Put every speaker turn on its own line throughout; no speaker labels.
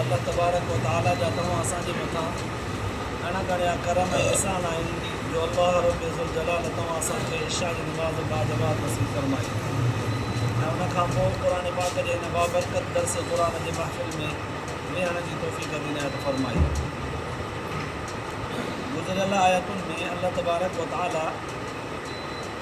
الله تبارڪ و تعاليٰ جا توهان اسان جي مٿان گهڻا گهڻيا ڪرم ۽ احسان آهن جو الله ربّ ذوالجلال توهان اسان کي عشاء جي نماز بعد جماعت نصيب فرمائي ۽ ان کان پوء قرآن پاڪ جي هن بابرڪت درس قرآن جي محفل ۾ ويهڻ جي توفيق عظيم عنايت فرمائي. گذريل آيتن ۾ الله تبارڪ و تعاليٰ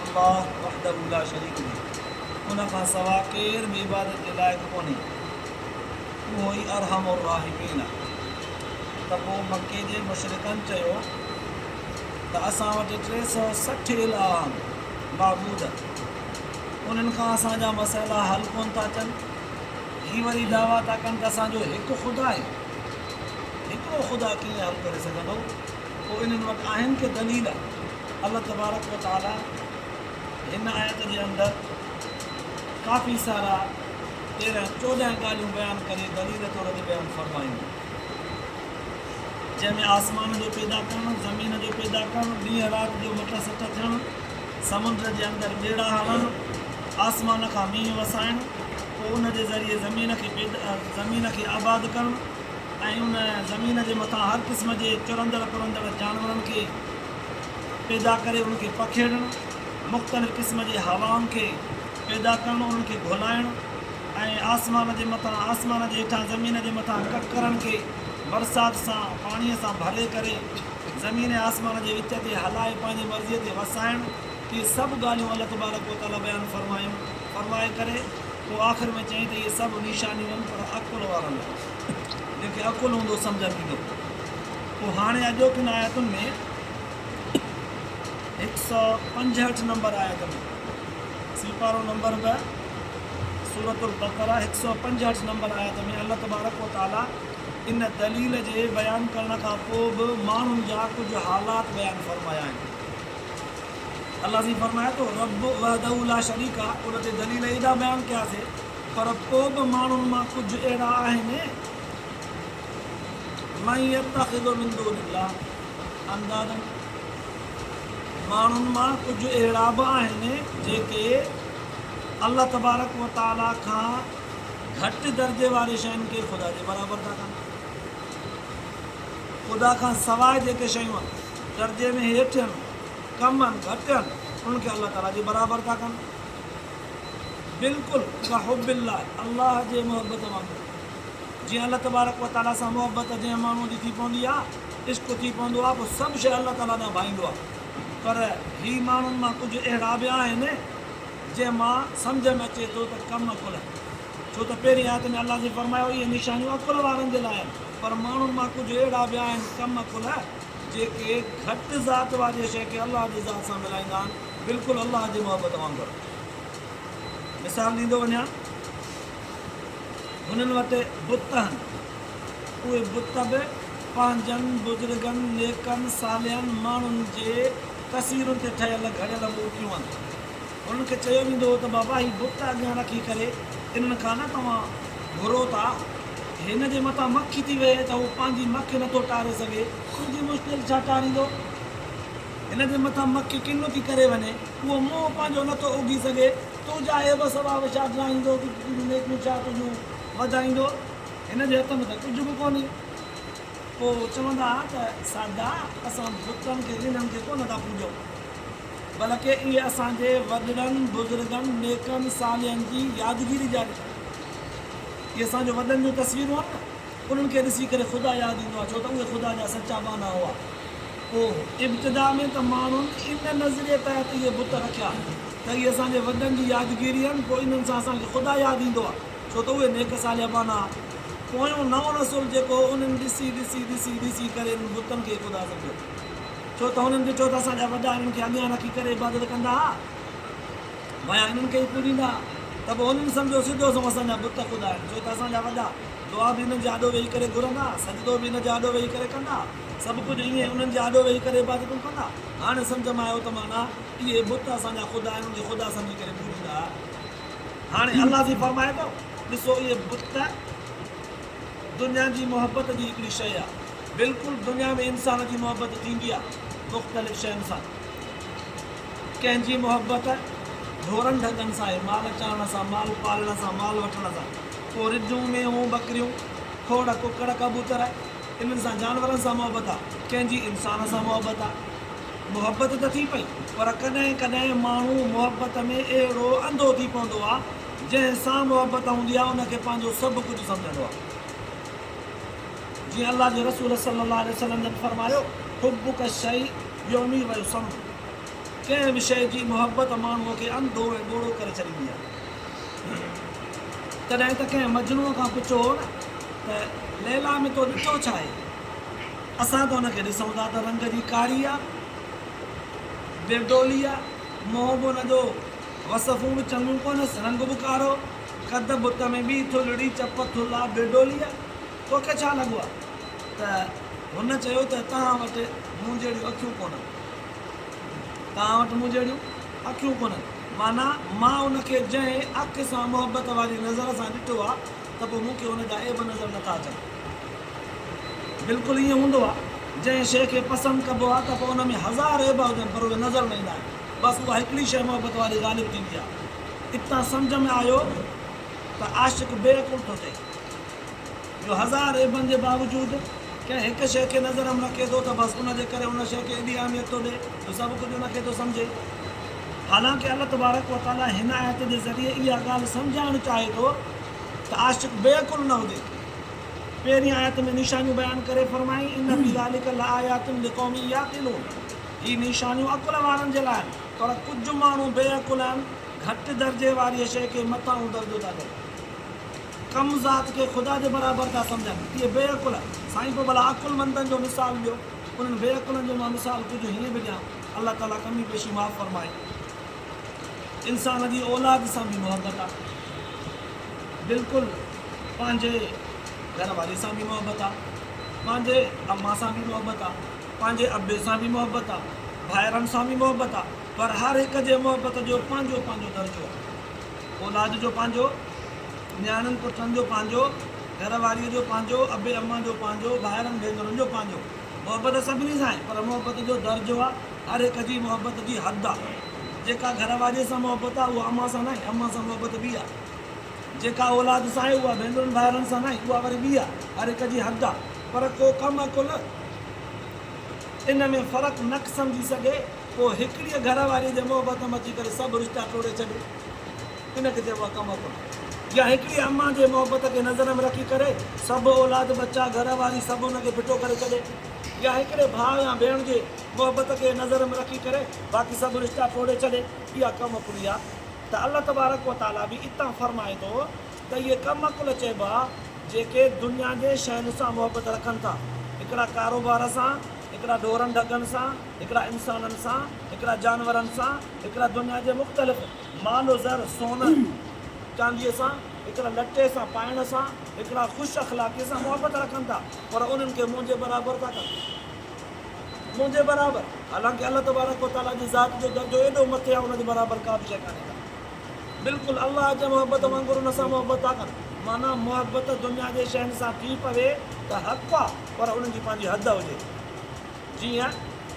الله وحده لا شريڪ لي، ان کان سوا ڪير به عبادت جي لائق ڪونهي، اهو ئي ارحم الراحمين آ. ته پوء مڪي جي مشرڪن چيو ته اسان وٽ ٽي سؤ سٺ الهه آهن، معبود، انهن کان اسان جا مسئلا حل ڪونه ٿا ٿين، هي وري دعويٰ ٿا ڪن ته اسان جو هڪ خدا آهي، هڪڙو خدا ڪيئن حل ڪري سگهندو، پوء انهن وٽ آهن ڪي دليل؟ الله تبارڪ و تعاليٰ هن آيت جي اندر ڪافي سارا تيرهن چوڏهن ڳالهيون بيان ڪري دليل طور تي بيان فرمايون جنهن ۾ آسمان جو پيدا ڪرڻ زمين جو پيدا ڪرڻ ڏينهن رات جو مٽ سٽ ٿيڻ سمنڊ جي اندر ٻيڙا هلن آسمان کان مينهن وسائڻ پوء ان جي ذريعي زمين کي پيدا زمين کي آباد ڪرڻ ۽ ان زمين جي مٿان هر قسم جي چرندڙ پرندڙ جانورن کي پيدا ڪري ان کي پکيڙڻ، مختلف قسم جي هوائن کي پيدا ڪرڻ انهن کي گهلائڻ ۽ آسمان جي مٿان آسمان جي هيٺان زمين جي مٿان ڪڪرن کي برسات سان پاڻي سان ڀري ڪري زمين ۽ آسمان جي وچ تي هلائي پنهنجي مرضي تي وسائڻ اهي سڀ ڳالهيون الله تبارڪ و تعالي بيان فرمايون فرمائي ڪري پوء آخر ۾ چيائين ته اهي سڀ نشانيون آهن پر عقل وارن لاء جنهن کي عقل هوندو سمجهه ٿيندو پوء هاڻي اڄوڪين آيتن ۾ هڪ سؤ پنجهٺ نمبر آيت ۾ سيپارو نمبر به سورت البقره هڪ سؤ پنجهٺ نمبر آيت ۾ الله تبارڪ و تعالي ان دليل جي بيان ڪرڻ کان پوء به ماڻهن جا ڪجهه حالات بيان فرمايا آهن الله سائين فرمائي ٿو رب وحده لا شريڪ ان تي دليل ايڏا بيان ڪياسي پر پوء به ماڻهن مان ڪجهه اهڙا آهن، من يتخذ من دون الله اندادا، ماڻهن مان ڪجهه اهڙا به آهن جيڪي الله تبارڪ و تعاليٰ کان گهٽ درجي واري شين کي خدا جي برابر ٿا ڪن. خدا کان سواء جيڪي شيون درجي ۾ هيٺ هن، ڪم هن، گهٽ هن، انهن کي الله تعاليٰ جي برابر ٿا ڪن. بلڪل ڪا حب الله، الله جي محبت وانگر، جيئن الله تبارڪ و تعاليٰ سان محبت جنهن ماڻهوء جي ٿي پوندي آهي، عشق ٿي پوندو آهي، پوء سڀ شيء الله تعاليٰ ڏانهن ڀائيندو آهي. پر هي ماڻهن مان ڪجهه اهڙا به آهن، جنهن مان سمجهه ۾ اچي ٿو ته ڪم عقل آهن، ڇو ته پهرين آيت ۾ الله جي فرمايو اهي نشانيون عقل وارن جي لاء آهن، پر ماڻهن مان ڪجهه اهڙا به آهن ڪم عقل، جيڪي گهٽ ذات واريء شيء کي الله جي ذات سان ملائيندا آهن. بلڪل الله جي محبت وانگر مثال ڏيندو وڃان هنن وٽ بت هن اهي بت به پنهنجن بزرگن نيڪن صالحن ماڻهن جي تصويرن تي ٺهيل گهڙيل مورتيون هن انهن کي چيو ويندو هو ته بابا هي بت اڳيان رکي ڪري انهن کان نه توهان گهرو ٿا هن جي مٿان مکي ٿي ويهي ته هو پنهنجي مک نٿو ٽاري سگهي. تنهنجي مشتل ڇا ٽاريندو. هن جي مٿان مک ڪنو ٿي ڪري وڃي، اهو منهن پنهنجو نه ٿو اگهي سگهي، تنهنجا عيب سڀا وشاٽرائيندو، تون ڪيتريون به نيڪيون ڇا تنهنجون وڌائيندو، هن جي هٿ ۾ ته ڪجهه به ڪونهي. پوء هو چوندا ها ته، ساڌا، اسان بتن کي رينن کي ڪونه ٿا پوڄون، بلڪ اهي اسان جي وڏڙن، بزرگن، نيڪن، صالحن جي يادگيري جا نشان آهن. اهي اسان جو وڏن جون تصويرون آهن نه، انهن کي ڏسي ڪري خدا ياد ايندو آهي، ڇو ته اهي خدا جا سچا ٻانها هئا. هو. ابتدا ۾ ته ماڻهن ان نظريي تحت اهي بت رکيا ته اهي اسان جي وڏن جي يادگيري آهن، پوء انهن سان اسان کي خدا ياد ايندو آهي، ڇو ته اهي نيڪ صالح ٻانها هئا. پويون نئون نسل جيڪو هو انهن ڏسي ڏسي ڏسي ڏسي ڪري انهن بتن کي خدا سمجهيو، ڇو ته هنن ڏٺو ته اسان جا وڏا انهن کي اڳيان رکي ڪري عبادت ڪندا هئا، ڀايا انهن کي ئي پوڄيندا هئا، ته پوء هنن سمجهيو سڌو سنئون اسان جا بت خدا آهن، ڇو ته اسان جا وڏا دعا به انهن جي آڏو ويهي ڪري گهرندا هئا، سجدو به ان جي آڏو ويهي ڪري ڪندا هئا. سڀ ڪجهه ائين انهن جي آڏو ويهي ڪري عبادتون ڪندا. هاڻي سمجهه ۾ آيو ته معنيٰ اهي بت اسان جا خدا آهن، انهن کي خدا سمجهي ڪري پوڄيندا هئا. هاڻي الله جي فرمائي ٿو، ڏسو اهي بت ته دنيا جي محبت جي هڪڙي شيء آهي. بلڪل دنيا ۾ انسان جي محبت ٿيندي آهي مختلف شين سان. ڪنهن جي محبت ڍورن ڍڳن سان آهي، مال چارڻ سان، مال پالڻ سان، مال وٺڻ سان. پوء رڍون، مينهون، ٻڪريون، کوڙ، ڪڪڙ، ڪبوتر. انهن سان جانورن سان محبت آ، ڪنهن جي انسان سان محبت آ. محبت ته ٿي پئي پر ڪڏهن ڪڏهن ماڻهو محبت ۾ اهڙو انڌو ٿي پوندو آ، جنهن سان محبت هوندي آ ان کي پنهنجو سڀ ڪجهه سمجهندو آ. جيئن الله جي رسول صلي الله عليه وسلم جن فرمايو، حبک الشيء يعمي و يصم ڪنهن به شيء جي محبت ماڻهوء کي انڌو ۽ ٻوڙو ڪري ڇڏيندي آ. تڏهن ته ڪنهن مجنوء کان پڇو هو نه. ته ليلا ۾ تو ڏٺو ڇا آهي؟ اسان ته ان کي ڏسون ٿا ته رنگ جي ڪاري آ، برڊولي آ، منهن به ان جو وصفون به چڱيون ڪونس، رنگ به ڪارو، قد بت ۾ به ٿلهڙي، چپ ٿلها، برڊولي آ، توکي ڇا لڳو آ؟ ته هن چيو ته توهان وٽ مون جهڙيون اکيون ڪونن، توهان وٽ مون جهڙيون اکيون ڪونن، معنيٰ مان ان کي جنهن اک سان محبت واري نظر سان ڏٺو آ، ته پوء مون کي ان جا عيب نظر نٿا اچن. بلڪل ائين هوندو آهي. جنهن شيء کي پسند ڪبو آهي ته پوء ان ۾ هزار عيب هجن پر اهي نظر نه ايندا آهن. بس اها هڪڙي شيء محبت واري غالب ٿيندي آهي. اتان سمجهه ۾ آيو ته عاشق بي عقل ٿو ٿئي. جو هزار عيبن جي باوجود ڪنهن هڪ شيء کي نظر هم رکي ٿو ته بس ان جي ڪري ان شيء کي ايڏي اهميت ٿو ڏئي جو سڀ ڪجهه ان کي ٿو سمجهي. حالانڪه الله تبارڪ وتعاليٰ هن آيت جي ذريعي اها ڳالهه سمجهائڻ چاهي ٿو. ته عاشق بي عقل نه هجي. پهرين آيت ۾ نشانيون بيان ڪري فرمائي، ان في ذلک لآيات لقوم يعقلون، هي نشانيون عقل وارن جي لاء آهن، پر ڪجهه ماڻهو بي عقل آهن، گهٽ درجي واريء شيء کي مٿانهون درجو ٿا ڏين، ڪم ذات کي خدا جي برابر ٿا سمجهن، اهي بي عقل. سائين پوء ڀلا عقلمندن جو مثال ڏيو، انهن بي عقلن جو مان مثال ڪجهه هيئن به ڏيان، الله تعاليٰ ڪمي پيشي معاف فرمائي. انسان جي اولاد سان به محبت آ بلڪل پنهنجي گهر واري سان به محبت آ پنهنجي امان سان به محبت آ پنهنجي ابي سان به محبت آ ڀائرن سان به محبت آ پر هر هڪ جي محبت جو پنهنجو پنهنجو درجو آ اولاد جو پنهنجو نياڻين پٽن جو پنهنجو گهر واري جو پنهنجو ابي امان جو پنهنجو ڀائرن ڀينرن جو پنهنجو محبت سڀني سان آهي پر محبت جو درجو آ هر هڪ جي محبت جي حد آ جيڪا گهر واري سان محبت آ اها امان سان ناهي امان سان محبت ٻي آ جيڪا اولاد سان آهي اها ڀينرن ڀائرن سان ناهي اها وري ٻي آ هر هڪ جي حد آ پر ڪو ڪم عقل ان ۾ فرق نڪ سمجهي سگهي پوء هڪڙيء گهر واريء جي محبت ۾ اچي ڪري سڀ رشتا ٽوڙي ڇڏي. ان کي چئبو آهي تمتع يا هڪڙي امان جي محبت کي نظر ۾ رکي ڪري سڀ اولاد ٻچا گهر واري سڀ ان کي ڦٽو ڪري ڇڏي يا هڪڙي ڀاء يا ڀيڻ جي محبت کي نظر ۾ رکي ڪري باقي سڀ رشتا ٽوڙي ڇڏي اها ڪم عقلي آهي ته الله تبارڪ و تعالي به اتان فرمائي ٿو ته اهي ڪم عقل چئبا جيڪي دنيا جي شين سان محبت رکن ٿا هڪڙا ڪاروبار سان هڪڙا ڍورن ڍڳن سان هڪڙا انسانن سان هڪڙا جانورن سان هڪڙا دنيا جي مختلف مال و زر، سون ۽ چانديء سان، هڪڙا لٽي سان، پائڻ سان، هڪڙا خوش اخلاقيء سان محبت رکن ٿا، پر انهن کي منهنجي برابر ٿا ڪن. منهنجي برابر! حالانڪه الله تبارڪ و تعاليٰ جي ذات جو درجو ايڏو مٿي آهي ان جي برابر ڪا به شيء ڪانهي ڪا. بلڪل الله جي محبت وانگر ان سان محبت ٿا ڪن. معنيٰ محبت دنيا جي شين سان ٿي پوي ته حق آ پر ان جي پنهنجي حد هجي. جيئن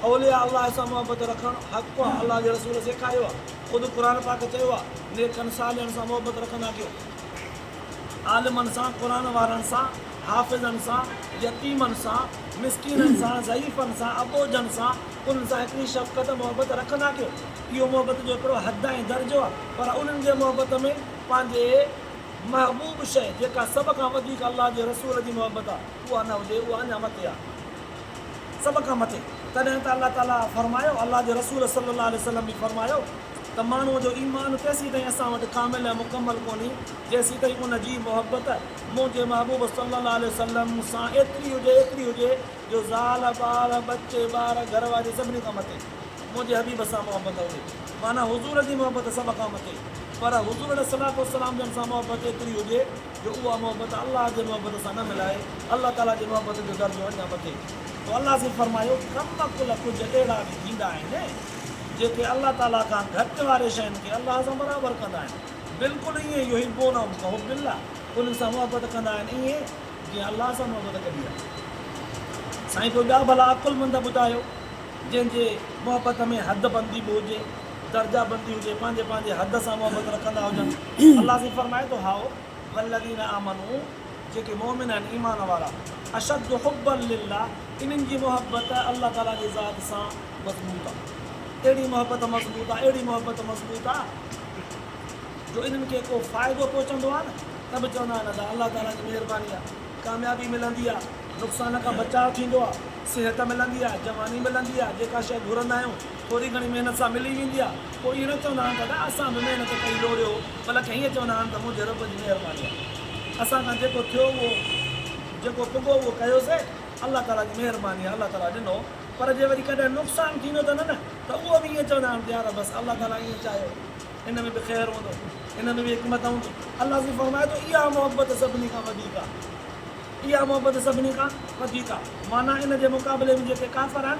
اولياء الله سان محبت رکڻ حق آ، الله جي رسول سيکاريو آ، خود قرآن پاڪ چيو آ، نيڪن صالحن سان محبت رکندا ڪيو، عالمن سان، قرآن وارن سان، حافظن سان، يتيمن سان، مسڪينن سان، ضعيفن سان، اٻوجهن سان، انهن سان هڪڙي شفقت، محبت، رکندا ڪيو، اهو محبت جو هڪڙو حد ۽ درجو آ، پر انهن جي محبت ۾ پنهنجي محبوب شيء جيڪا سڀ کان وڌيڪ الله جي رسول جي محبت آ اها نه هجي اها اڃا مٿي آ. سڀ کان مٿي، تڏهن ته الله تعاليٰ فرمايو، الله جي رسول صلّي اللّٰه عليه وسلّم به فرمايو ته ماڻهوء جو ايمان تيسيتائين اسان وٽ ڪامل ۽ مڪمل ڪونهي، جيسيتائين ان جي محبت منهنجي محبوب صلّي اللّٰه عليه وسلّم سان ايتري هجي ايتري هجي جو زال، ٻال، ٻچي، ٻار، گهر واري سڀني کان مٿي منهنجي حبيب سان محبت هجي. معنيٰ حضور جي محبت سڀ کان مٿي، پر حضور عليه الصلواة والسلام جن سان محبت ايتري هجي، جو اها محبت الله جي محبت سان نه ملائي الله تعالي جي محبت جو درجو اڃا وڌي ٿو الله سائين فرمايو ڪم عقل ڪجهه اهڙا به ٿيندا آهن جيڪي الله تعالي کان گهٽ واري شين کي الله سان برابر ڪندا آهن بلڪل ائين يحبونهم ڪحب الله انهن سان محبت ڪندا آهن ائين جيئن الله سان محبت ڪبي آهي سائين پوء ٻيا ڀلا عقلمند ٻڌايو جنهن جي محبت ۾ حد بندي به هجي. درجه بندي هجي، پنهنجي پنهنجي حد سان محبت رکندا هجن، الله سائين فرمائي ٿو هائو والذين آمنو جيڪي مؤمن آهن ايمان وارا اشد حبا لله انهن جي محبت الله تعالي جي ذات سان مضبوط آ اهڙي محبت مضبوط آ اهڙي محبت مضبوط آ جو انهن کي ڪو فائدو پهچندو آ نه ته به چوندا آهن ادا الله تعالي جي مهرباني آ ڪاميابي ملندي آ نقصان کان بچاء ٿيندو آ صحت ملندي آ جواني ملندي آ جيڪا شيء گهرندا آهيون ٿوري گهڻي محنت سان ملي ويندي آ پوء ائين نه چوندا آهن ته ادا اسان به محنت ڪئي لوڙهيو بلڪ ائين چوندا آهن ته منهنجي رب جي مهرباني آ اسان کان جيڪو ٿيو اهو جيڪو پڳو اهو ڪيوسي الله تعالي جي مهرباني آ الله تعالي ڏنو پر جي وري ڪڏهن نقصان ٿيندو ته نه نه ته اهو به ائين چوندا آهن ته يار بس الله تعالي ائين چاهيو ان ۾ به خير هوندو ان ۾ به حڪمت هوندي الله سائين فرمائي ٿو اها محبت سڀني کان وڌيڪ آ اها محبت سڀني کان وڌيڪ آ معنيٰ ان جي مقابلي ۾ جيڪي ڪافر آهن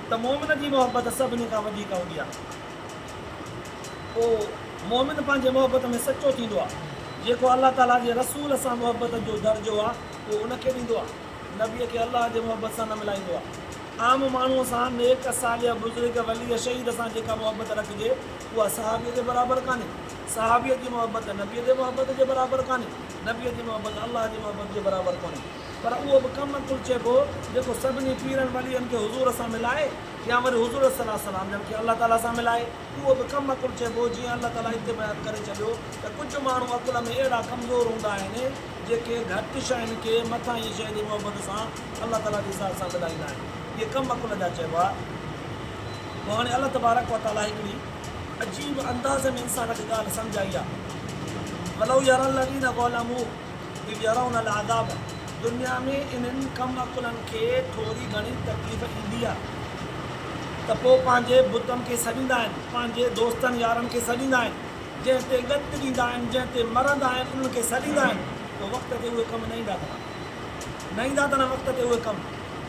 ته مؤمن جي محبت سڀني کان وڌيڪ هوندي آهي. پوء مؤمن پنهنجي محبت ۾ سچو ٿيندو آهي. جيڪو الله تعاليٰ جي رسول سان محبت جو درجو آهي، اهو ان کي ڏيندو آهي. نبيء کي الله جي محبت سان نه ملائيندو آهي. عام ماڻهوء سان، نيڪ، صالح، بزرگ، ولي، شهيد سان جيڪا محبت رکجي، اها صحابيء جي برابر ڪانهي. صحابيء جي محبت نبيء جي محبت جي برابر ڪانهي. نبيء جي محبت الله جي محبت جي برابر ڪونهي. پر اهو به ڪم عقل چئبو جيڪو سڀني پيرن ولين کي حضور سان ملائي يا وري حضور صلي الله عليه وسلم جن کي الله تعالي سان ملائي اهو به ڪم عقل چئبو جيئن الله تعالي هتي بيان ڪري ڇڏيو ته ڪجهه ماڻهو عقل ۾ اهڙا ڪمزور هوندا آهن جيڪي گهٽ شين کي مٿاهين شيء جي محبت سان الله تعالي جي ذات سان ملائيندا آهن اهي ڪم عقل جا چئبا پوء هاڻي الله تبارڪ وتعالي هڪڙي عجيب انداز ۾ انسان کي ڳالهه سمجهائي آهي ولو يري الذين ظلموا. به ڄڻ ان لاء عذاب آهي. دنيا ۾ انهن ڪم عقلن کي ٿوري گهڻي تڪليف ايندي آهي ته پوء پنهنجي بتن کي سڏيندا آهن، پنهنجي دوستن يارن کي سڏيندا آهن، جنهن تي ڳت ڏيندا آهن، جنهن تي مرندا آهن، انهن کي سڏيندا آهن، پوء وقت تي اهي ڪم نه ايندا اٿن، نه ايندا اٿن وقت تي اهي ڪم،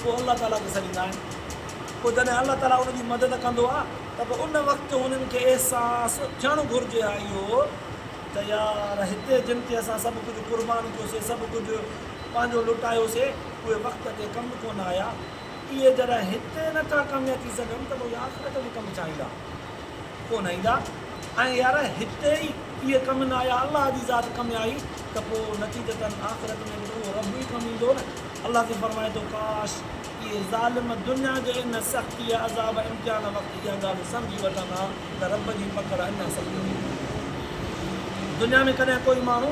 پوء الله تعاليٰ کي سڏيندا آهن، پوء جڏهن الله تعاليٰ انهن جي مدد ڪندو آهي ته پوء ان وقت انهن کي احساس ٿيڻ گهرجي ها اهو ته يار هتي جن تي اسان سڀ ڪجهه قربان ڪيوسي، سڀ ڪجهه پنهنجو لٽايوسي، اهي وقت تي ڪم ڪونه آيا. اهي جڏهن هتي نه ٿا ڪاميا ٿي سگهن ته پوء آخرت ۾ ڪم ڇا ايندا؟ ڪونه ايندا. ۽ يار هتي ئي اهي ڪم نه آيا، الله جي ذات ڪم آئي ته پوء نتيجتن آخرت ۾ به ته اهو رب ئي ڪم ايندو نه. الله تي فرمائي ٿو، ڪاش! اهي ظالم دنيا جي ان سختيء، عذاب ۽ امتحان وقت اها ڳالهه سمجهي وٺن ها، ته رب جي پڪڙ اڃا سخت ٿي ويندي. دنيا ۾ ڪڏهن ڪوئي ماڻهو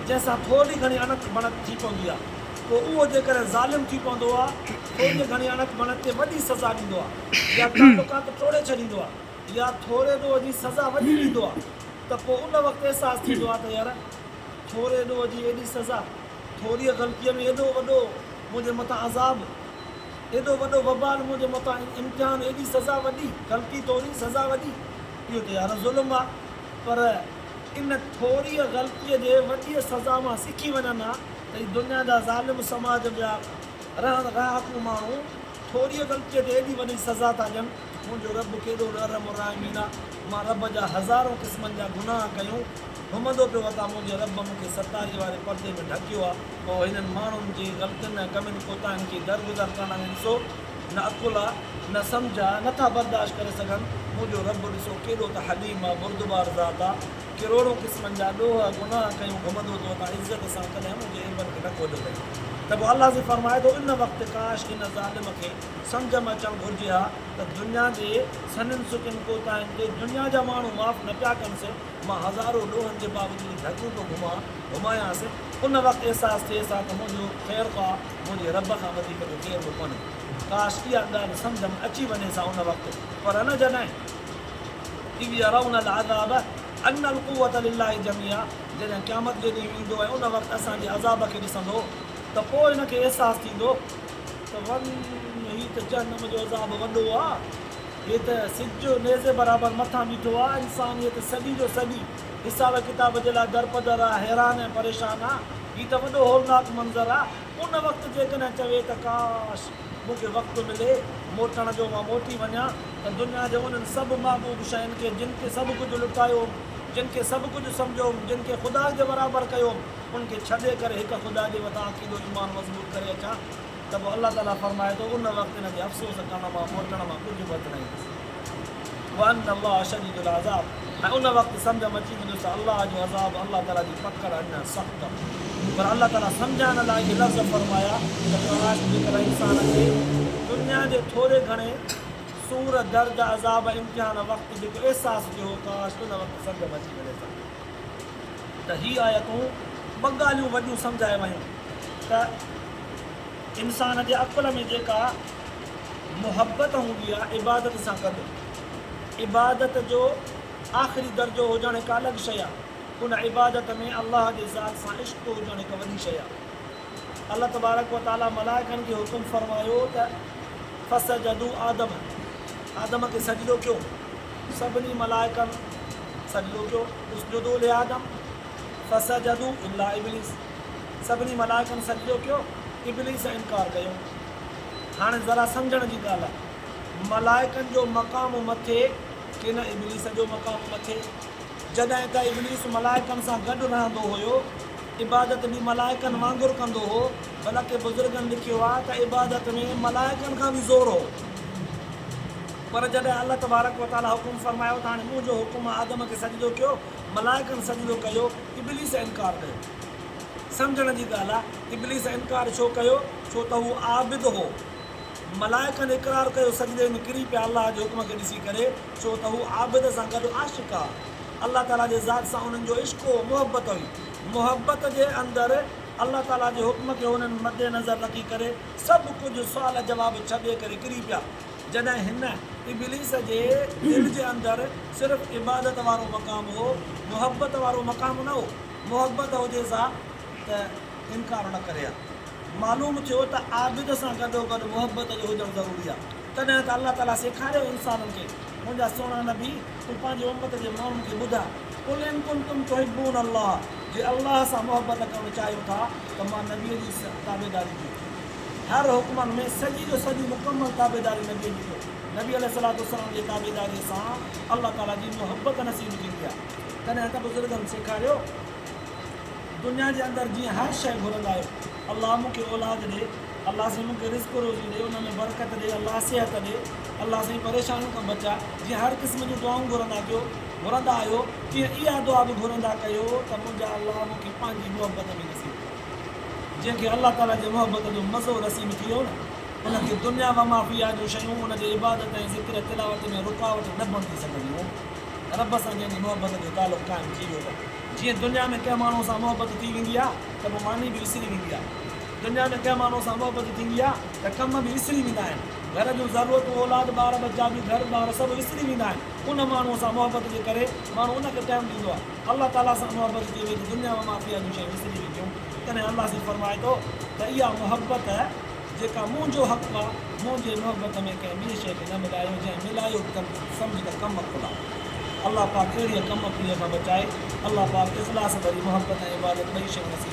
جنهن سان ٿورڙي گهڻي اڻت بڻت ٿي پوندي آهي، پوء اهو جيڪڏهن ظالم ٿي پوندو آهي، ٿورڙيء گهڻيء اڻت بڻت تي وڏي سزا ڏيندو آهي يا تعلقات ٽوڙي ڇڏيندو آهي يا ٿورڙي ڏوهه جي سزا وڏي ڏيندو آهي ته پوء ان وقت احساس ٿيندو آهي ته يار ٿورڙي ڏوهه جي ايڏي سزا ٿوريء غلطيء ۾ ايڏو وڏو منهنجي مٿان عذاب، ايڏو وڏو وبال منهنجي مٿان امتحان، ايڏي سزا وڏي، غلطي ٿوري، سزا وڏي، اهو ته يار ظلم آ، پر ان ٿوريء غلطيء جي وڏيء سزا مان سکي وڃن ها ته هي دنيا جا ظالم سماج جا رهڻ رهاڪو ماڻهو ٿوريء غلطيء تي ايڏي وڏي سزا ٿا ڏين. منهنجو رب ڪيڏو نرم الرحمين آ، مان رب جا هزارون قسمن جا گناهه ڪيون، گهمندو پيو وتان منهنجي رب مون کي ستاري واري پردي ۾ ڍڪيو آ. پوء هنن ماڻهن جي غلطين ۽ ڪمين ڪوتاهين کي درگذر ڪرڻ ۽ ڏسو، نه عقل آ، نه سمجهه آ، نه ٿا برداشت ڪري سگهن، منهنجو رب ڏسو ڪيڏو ته حليم آ، بردبار ذات آ، ڪروڙون قسمن جا ڏوهه، گناهه، ڪيون، گهمندو ٿو وتان عزت سان، ڪڏهن منهنجي عيبن کي نه کوليو اٿئي. ته پوء الله جي فرمائي ٿو، ان وقت ڪاش هن ظالم کي. سمجهه ۾ اچڻ گهرجي ها ته دنيا جي سنهن سڪن ڪوتاهين تي دنيا جا ماڻهو معاف نه پيا ڪن صرف مان هزارون لوهن جي باوجود ڍڳون پيو گهمان گهمايان صرف ان وقت احساس ٿئيس ها ته منهنجو خير خواه منهنجي رب کان وڌيڪ ٻيو ڪير به ڪونهي ڪاش اها ڳالهه سمجهه ۾ اچي وڃيس ها ان وقت پر نه جڏهن اذ يرون العذاب ان القوة لله جميعا جڏهن قيامت جي ڏينهن ايندو ۽ ان وقت اسان جي عذاب کي ڏسندو ته پوء هن کي احساس ٿيندو ته وڃ، هي ته جهنم جو عذاب وڏو آ، هي ته سج جو نيزي برابر مٿان بيٺو آ، انسانيت صدي جو صدي حساب ڪتاب جي لاء درپدر آ، حيران ۽ پريشان آ، هي ته وڏو هولناڪ منظر آ، ان وقت جيڪڏهن چوي ته ڪاش! مون کي وقت ملي موٽڻ جو، مان موٽي وڃان ته دنيا جي انهن سڀ محبوب شين کي جن کي سڀ ڪجهه لٽايو هوم، جن کي سڀ ڪجهه سمجهيو هوم، جن کي خدا جي برابر ڪيو هوم، ان کي ڇڏي ڪري هڪ خدا جي مٿان عقيدو، ايمان، مضبوط ڪري اچان ته پوء الله تعاليٰ فرمائي ٿو، ان وقت انهن جي افسوس ڪرڻ مان، موٽڻ مان، ڪجهه به هٿ نه ايندو. وان الله شديد العذاب ۽ ان وقت سمجهه م اچي ويندو ته الله جو عذاب، الله تعاليٰ جي پڪڙ، اڃا سخت آهي. پر الله تعاليٰ سمجهائڻ لاء اهي لفظ فرمايا ته ڪاش جيڪڏهن انسان کي دنيا جي ٿوري گهڻي سور، درد، عذاب ۽ امتحان وقت جيڪو احساس ٿيو هو ڪاش ان وقت سمجهه م اچي وڃيس ها. ته هي آيتون ٻه ڳالهيون وڏيون سمجهايو ويون ته انسان جي عقل ۾ جيڪا محبت هوندي آهي عبادت سان گڏ عبادت جو آخري درجو هجڻ هڪ الڳ شيء آهي ان عبادت ۾ الله جي ذات سان عشق هجڻ هڪ وڏي شيء آهي. الله تبارڪ و تعاليٰ ملائڪن کي حڪم فرمايو ته فسجدوا آدم، آدم کي سجدو ڪيو، سڀني ملائڪن سجدو ڪيو، اسجدوا لآدم فسجدوا الا ابليس، سڀني ملائڪن سجدو ڪيو، ابليس انڪار ڪيو. هاڻي ذرا سمجهڻ جي ڳالهه آهي، ملائڪن جو مقام مٿي ڪنه ابليس جو مقام مٿي؟ جڏهن ته ابليس ملائڪن سان گڏ رهندو هيو، عبادت به ملائڪن وانگر ڪندو هو، بلڪ بزرگن لکيو آهي ته عبادت ۾ ملائڪن کان به زور هو. پر جڏهن الله تبارڪ و تعاليٰ حڪم فرمايو ته هاڻي منهنجو حڪم آهي آدم کي سجدو ڪيو، ملائڪن سجدو ڪيو، ابليس انڪار ڪيو. سمجهڻ جي ڳالهه آهي ابليس انڪار ڇو ڪيو؟ ڇو ته هو عابد هو. ملائڪن اقرار ڪيو، سجدي ۾ ڪري پيا الله جي حڪم کي ڏسي ڪري. ڇو ته هو عابد سان گڏ عاشق آ. الله تعاليٰ جي ذات سان انهن جو عشق هو، محبت هئي. محبت جي اندر الله تعاليٰ جي حڪم کي هنن مد نظر رکي ڪري سڀ ڪجهه سوال جواب ڇڏي ڪري ڪري پيا. جڏهن هن، ابليس، جي دل جي اندر صرف عبادت وارو مقام هو، محبت وارو مقام نه هو. محبت هجيس ها ته انڪار نه ڪري ها. معلوم ٿيو ته عابد سان گڏوگڏ محبت جو هجڻ ضروري آ. تڏهن ته الله تعاليٰ سيکاريو انسانن کي، منهنجا سهڻا نبي! تون پنهنجي امت جي ماڻهن کي ٻڌاء، قل ان ڪنتم تحبون الله، جي الله سان محبت ڪرڻ چاهيو ٿا ته مان نبيء جي تابعداري ڪيو. هر حڪمن ۾ سڄي جو سڄي مڪمل تابعداري نبيء جي ڪيو. نبي عليه الصلوة والسلام جي تابعداريء سان الله تعاليٰ جي محبت نصيب ٿيندي آهي. تڏهن ته بزرگن سيکاريو، دنيا جي اندر جيئن هر شيء گهرندا آهيو، الله مون کي اولاد ڏي، الله سائين مونکي رزق روزي ڏي ان ۾ برڪت ڏي الله صحت ڏي الله سائين پريشانين کان بچاء جيئن هر قسم جون دعائون گهرندا ڪيو گهرندا آهيو تيئن اها دعا به گهرندا ڪيو ته منهنجا الله مونکي پنهنجي محبت ۾ نصيب ڪر جنهن کي الله تعالي جي محبت جو مزو نصيب ٿي ويو نه ان کي دنيا ومافيها جون شيون ان جي عبادت ۽ ذڪر تلاوت ۾ رڪاوٽ نه بڻجي سگهنديون رب سان جنهن جي محبت جو تعلق قائم ٿي ويو ته جيئن دنيا ۾ ڪنهن ماڻهو سان محبت ٿي ويندي آهي ته پوء ماني به وسري ويندي آهي. دنيا ۾ ڪنهن ماڻهوء سان محبت ٿيندي آهي ته ڪم به وسري ويندا آهن. گهر جون ضرورتون، اولاد، ٻار ٻچا به گهر ٻار سڀ وسري ويندا آهن. ان ماڻهوء سان محبت جي ڪري ماڻهو ان کي ٽائيم ڏيندو آهي. الله تعاليٰ سان محبت ٿئي وئي ته دنيا مان ماٿي واريون شيون وسري وينديون. تڏهن الله سائين فرمائي ٿو ته اها محبت جيڪا منهنجو حق آهي، منهنجي محبت ۾ ڪنهن ٻيء شيء کي نه ملايو، جنهن ملايو ته سمجهه ته ڪم کولا. الله پاڪ اهڙيء ڪم کوهيء کان بچائي. الله پاڪ اخلاص ڀري محبت ۽ عبادت ٻئي شيون نصيب فرمائي.